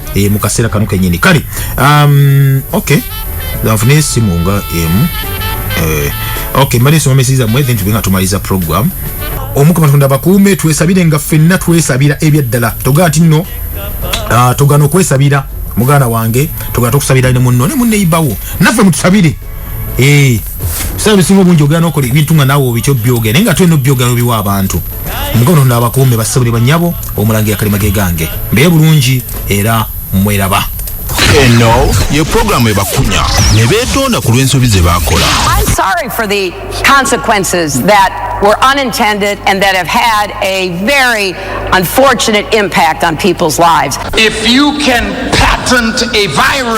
e, mu kaseera kano kenyini kale um, okay nfuna esimu nga emu eh, okay mbadde nsoma mesi zammwe then tube nga tumaliza program omukama katonda bakuume twesabire nga ffenna twesabira ebyaddala togaa ti nno ah, togana okwesabira muganda wange togana tokusabira ne munno ne munneyibawo naffe mutusabire ebiseera bisinga obungi ogera nokola ebintu nga naawe obikyo byogera naye nga tulina obyogera obiwa abantu mukono nda abakuume bassebo ne bannyabo omulangira kalima ge gange mbeere bulungi era mweraba eno ye programu ebakunya ne beetonda ku lw'ensobi ze baakola sorry for the consequences that were unintended and that have had a very unfortunate impact on people's lives. If you can patent a virus,